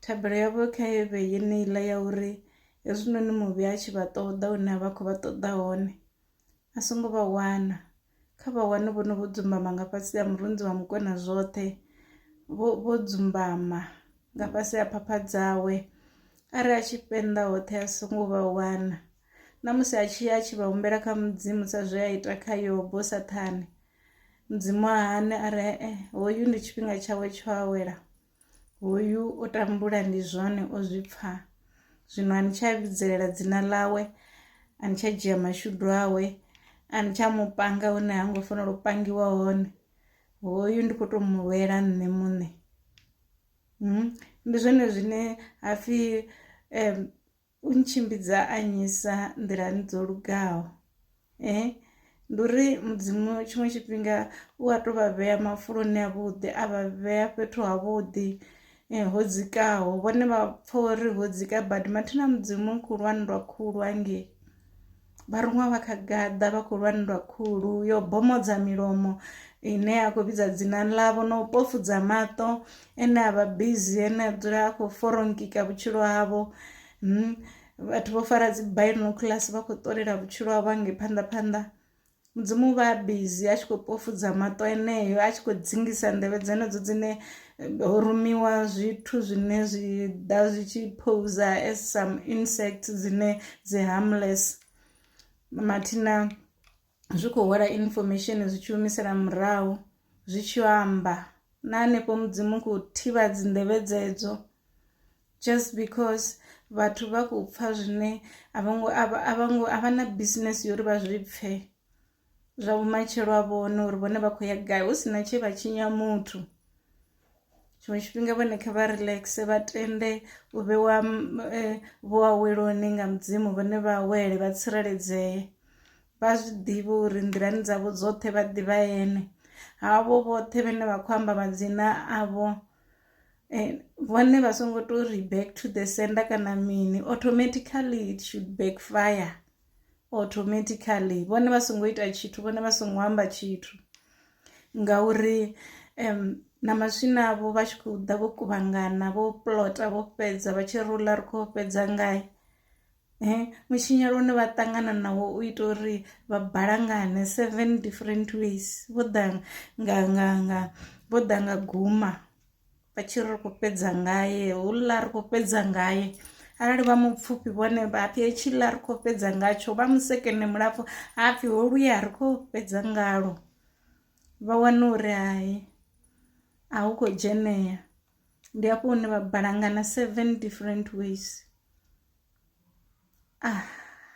Thabelo yavho kha i vhe yeneiḽa ya uri hezwinoni muvhi a tshi vha ṱoḓa hune a vha khou vha ṱoḓa hone a songo vha wana kha vha wane vho no vho dzumbama nga fhasi ha murunzi wa mukona zwoṱhe vho vho dzumbama nga fhasi ha phapha dzawe arali a tshi fhenda hoṱhe a songo vha wana na musi a tshi a tshi vha humbela kha mudzimu sa zwe a ita kha yobo sathane mudzimu a hane a re eh, hoyu ndi tshifhinga tshawe tsho awela Hoyu o tambula ndi zwone o zwi pfa zwino a ni tsha vhidzelela dzina ḽawe a ni tsha dzhia mashudu awe a ni tsha mu panga hune ha ngo fanela u pangiwa hone hoyu ndi khou tou mu lwela nṋe muṋe hmm, ndi zwone zwine hapfhi um u ntshimbidza a nyisa nḓilani dzo lugaho eh ndi uri mudzimu tshiṅwe tshifhinga u a tou vha vhea mafuloni avhuḓi a vha vhea fhethu havhuḓi eh, ho dzikaho vhone vha pfha uri ho dzika badi mathina mudzimu khulwane lwa khulu hangei Vharuṅwa vha kha gaḓa vha khou lwa nndwa khulu yo bomodza milomo ine ya khou vhidza dzina ḽavho na u pofudza maṱo ene a vha bizi ene a dzula a khou foronkika vhutshilo havho hmm, vhathu vho fara dzi binoculars vha khou ṱolela vhutshilo havho hangei phanḓa phanḓa mudzimu vha bizi a tshi khou pofudza maṱo eneyo a tshi khou dzingisa nḓevhe dzenedzo dzine eh, ho rumiwa zwithu zwine zwi ḓa zwi tshi pousa as some insects dzine dzi harmless mathina zwi khou hwala information zwi tshi humisela murahu zwi tshi amba na hanefho mudzimu khou thivha dzinḓevhe dzedzo just because vhathu vha khou pfha zwine a vho ngo a vho ngo a vha na business yo uri vha zwi pfhe zwa vhumatshelo a vhone uri vhone vha khou ya gai hu si na tshe vha tshinya muthu tshiṅwe tshifhinga vhone kha vha relaxe vha tende u vhewa eh, vho aweloni nga mudzimu vhone vha awele vha tsireledzee vha zwi ḓivhe uri nḓilani dzavho dzoṱhe vha ḓivha ene havho vhoṱhe vhene vha khou amba madzina avho and vhone vha songo to ri back to the sender kana mini automatically it should backfire automatically vhone vha songo ita tshithu vhone vha songo amba tshithu ngauri um na maswina avho vha tshi khou ḓa vho kuvhangana vho plota vho fhedza vha tshi rula ri khou fhedza ngae Mutshinyalo une vha ṱangana nawo u ita uri vha balangane seven different ways vho ḓa nga nga nga vho ḓa nga guma vha tshi ri khou fhedza ngae houḽa ri khou fhedza ngae arali vha mupfufhi vhone vha pfhi hetshila ri khou fhedza ngatsho vha musekene mulapfu ha pfhi ho luya ri khou fhedza ngalo vha wana uri hai a hu khou dzheneya. ndi hafho hune vha balangana seven different ways ah.